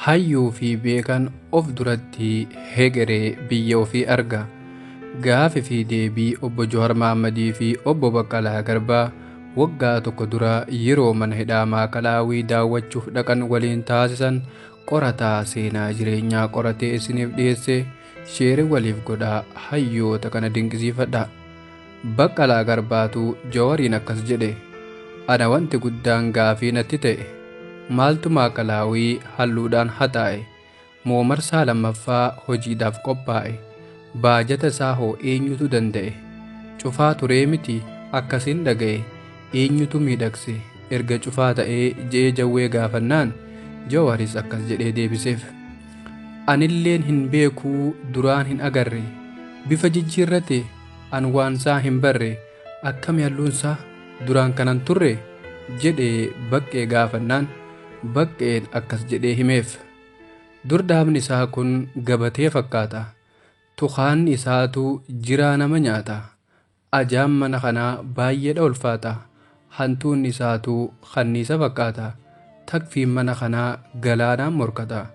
Hayyuu fi beekaan of duratti hegeree biyya ofii arga. Gaafi fi deebii obbo Jawar Mahammadii fi obbo Baqqalaa Garbaa waggaa tokko dura yeroo mana hidhaa Maakalaawii daawwachuuf dhaqan waliin taasisan qorataa seenaa jireenyaa qoratee isiniif dhiyeesse sheere waliif godhaa hayyoota kana dinqisiifadha. Baqqalaa Garbaatu Jawariin akkas jedhe, Ana wanti guddaan gaafii natti ta'e, maaltu Maa'kalaawii halluudhaan haxaa'e moo marsaa lammaffaa hojiidhaaf qophaa'e? Baajata isaa hoo eenyutu danda'e? Cufaa turee miti akkasiin dhaga'e, eenyutu miidhagse erga cufaa ta'ee je'ee Jawwee gaafannaan, Jawaris akkas jedhee deebiseef, Anilleen hin beeku duraan hin agarre, bifa jijjiirrate An waansaa hin barre, akkami halluunsaa duraan kana hin turre? jedhee Baqqee gaafannaan, Baqqeen akkas jedhee himeef. Dur dhaabni isaa kun gabatee fakkaata. Tukaanni isaatu jiraa nama nyaata. Ajaan mana kanaa baay'eedha ulfaata. Hantuunni isaatuu kanniisa fakkaata. Takfiin mana kanaa galaanaan morkata.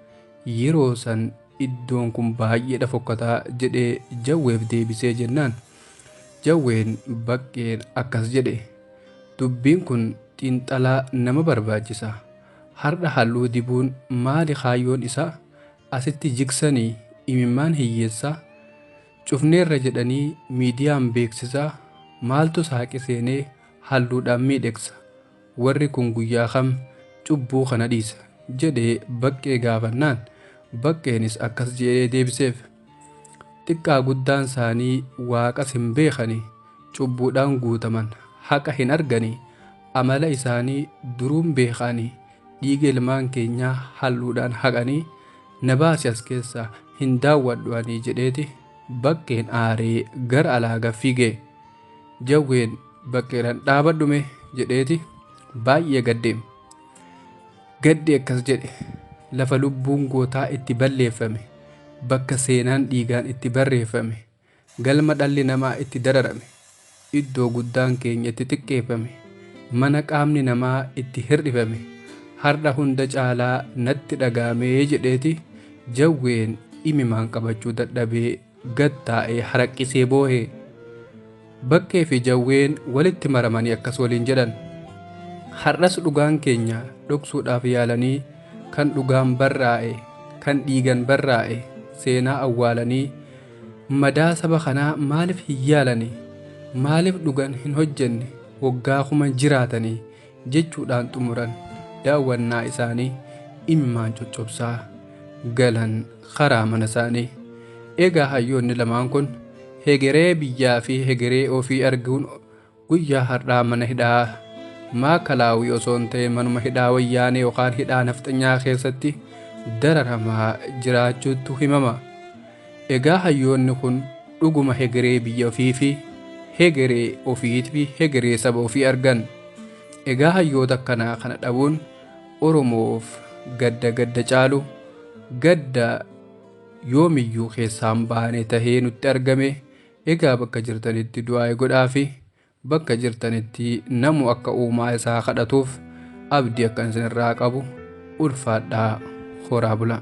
Yeroo san iddoon kun baay'eedha fokkataa jedhee Jawweef deebisee jennaan Jawween Baqqeen akkas jedhe. Dubbiin kun xiinxalaa nama barbaachisa. Har'a halluu dibuun maali kaayyoon isaa? Asitti jigsanii imimmaan hiyyeessaa? Cufneerra jedhanii miidiyaan beeksisaa maaltu saaqi seenee halluudhaan miidhegsa? Warri kun guyyaa kam cubbuu kana dhiisa? jedhee Baqqee gaafannaan Baqqeenis akkas jedhee deebiseef. Xiqqaa guddaan isaanii waaqas hin beekani, cubbuudhaan guutaman, haqa hin argani, amala isaanii duruun beekaani, dhiiga ilmaan keenyaa halluudhaan haqanii na baasi as keessaa hin daawwadhu ani jedheeti baqqeen aaree gara alaa gad fiige. Jawween baqqeedhaan dhaabadhu mee jedheeti baay'ee gadde. Gaddi akkas jedhe lafa lubbuun gootaa itti balleeffame bakka seenaan dhiigaan itti barreeffame. Galma dhalli namaa itti dararame, iddoo guddaan keenya itti xiqqeeffame, mana qaamni namaa itti hir'ifame har'a hunda caalaa natti dhaga'ame jedheeti Jawween imimaan qabachuu dadhabee gad taa'ee haraqqisee boohe. Bakkee fi Jawween walitti maramanii akkas waliin jedhan, Har'as dhugaan keenya dhoksuudhaaf yaalanii kan dhugaan barraa'e, kan dhiigan barraa'e seenaa awwaalanii madaa saba kanaa maaliif hin yaalani? Maaliif dhugan hin hojjenne? Waggaa kuman jiraatanii jechuudhaan xumuran. Daawwannaa isaanii imimmaan coccobsaa galan karaa mana isaanii. Egaa hayyoonni lamaan kun hegeree biyyaa fi hegeree ofii arguun guyyaa har'aa mana hidhaa maakalaawii osoo hin ta'e manuma hidhaa wayyaanee yookaan hidhaa nafxanyaa keessatti dararamaa jiraachuutu himama. Egaa hayyoonni kun dhuguma hegeree biyya ofiifi hegeree ofiitfi hegeree saba ofii argan. Egaa hayyoota akkanaa kana dhabuun Oromoof gadda gadda caalu gadda yoomiyyuu keessaa hin baane tahee nutti argame. Egaa bakka jirtanitti du'aayi godhaafi. Bakka jirtanitti namu akka uumaa isaa kadhatuuf abdii akkan isinirraa qabu ulfaadhaa horaa bulaa.